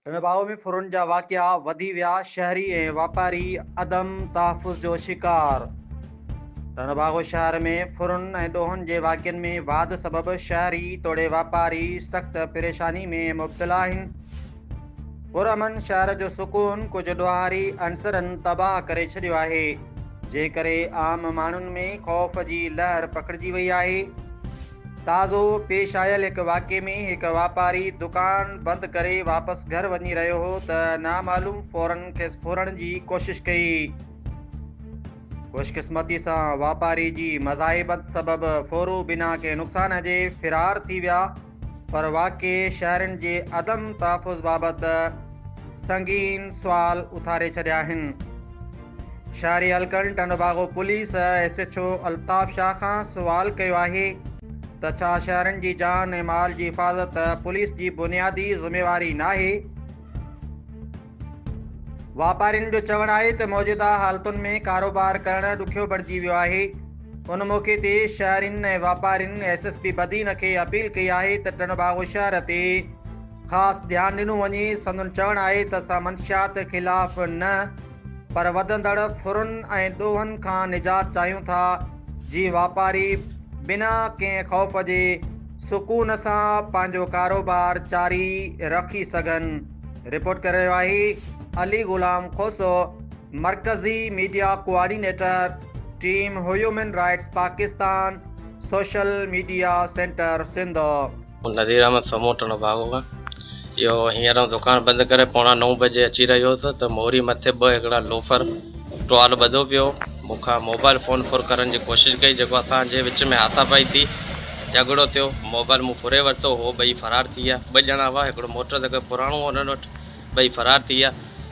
هن باهه ۾ ڦرن جا واقعا وڌي ويا، شهري ۽ واپاري عدم تحفظ جو شڪار. ٽنڊو باگو شهر ۾ ڦرن ۽ ڏوهن جي واقعن ۾ واڌ سبب شهري توڙي واپاري سخت پريشاني ۾ مبتلا آهن. پرامن شهر جو سڪون ڪجهه ڏوهاري عنصرن تباهه ڪري ڇڏيو آهي، جنهن ڪري عام ماڻهن ۾ خوف جي لهر پکڙجي وئي آهي. تازو پيش آيل هڪ واقعي ۾ هڪ واپاري دڪان بند ڪري واپس گهر وڃي رهيو هو ته نامعلوم ڦورن کيس ڦورڻ جي ڪوشش ڪئي. خوشقسمتي سان واپاري جي مزاحبت سبب ڦورو بنا ڪنهن نقصان جي فرار ٿي ويا پر واقعي شهرين جي عدم تحفظ بابت سنگين سوال اٿاري ڇڏيا آهن. شهري حلقن Tando Bago police S H O Altaf Shah کان سوال ڪيو آهي ته ڇا شهرين جي جان ۽ مال جي حفاظت پوليس جي بنيادي ذميواري ناهي؟ واپارين جو چوڻ آهي ته موجوده حالتن ۾ ڪاروبار ڪرڻ ڏکيو بڻجي ويو آهي، ان موقعي تي شهرين ۽ واپارين ايس ايس پي بدين کي اپيل ڪئي آهي ته ٽنڊوباگو شهر تي خاص ڌيان ڏنو وڃي، سندن چوڻ آهي ته اسان منشيات خلاف نه. پر وڌندڙ ڦرن ۽ ڏوهن کان نجات چاهيون ٿا، جي واپاري بنا ڪنهن خوف جي سڪون سان پنهنجو ڪاروبار جاري رکي سگهن. رپورٽ ڪري رهيو آهي علي غلام کوسو، مرڪزي media coordinator, team human rights Pakistan, social media centre Sindh. Nazir Ahmed Samoon Tando Bago کان اهو هينئر آئون دڪان بند ڪري پوڻا نو بجي اچي رهيو هوس ته موري مٿي ٻه هڪڙا لوفر ٽوال ٻڌو پيو مون کان موبائل فون ڦر ڪرڻ جي ڪوشش ڪئي جيڪو اسان جي وچ ۾ هاٿا پائي ٿي جهڳڙو ٿيو موبائل مون ڦري ورتو هو ٻئي فرار ٿي ويا ٻه ڄڻا هئا هڪڙو موٽر سائيڪل پراڻو هو هنن وٽ ٻئي فرار ٿي ويا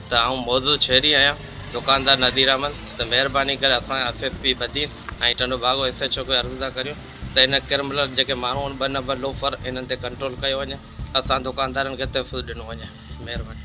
ته آئون موضوع ڇيڙي آيان دڪاندار نذير احمد ته مهرباني ڪري اسان S S P Badin ۽ Tando Bago S H O کي عرض ٿا ڪريون ته هن ڪرملر جيڪي ماڻهو آهن ٻه نمبر لوفر انهن تي ڪنٽرول ڪيو وڃي اسان دوڪاندارن کي تحفظ ڏنو وڃي مهرباني.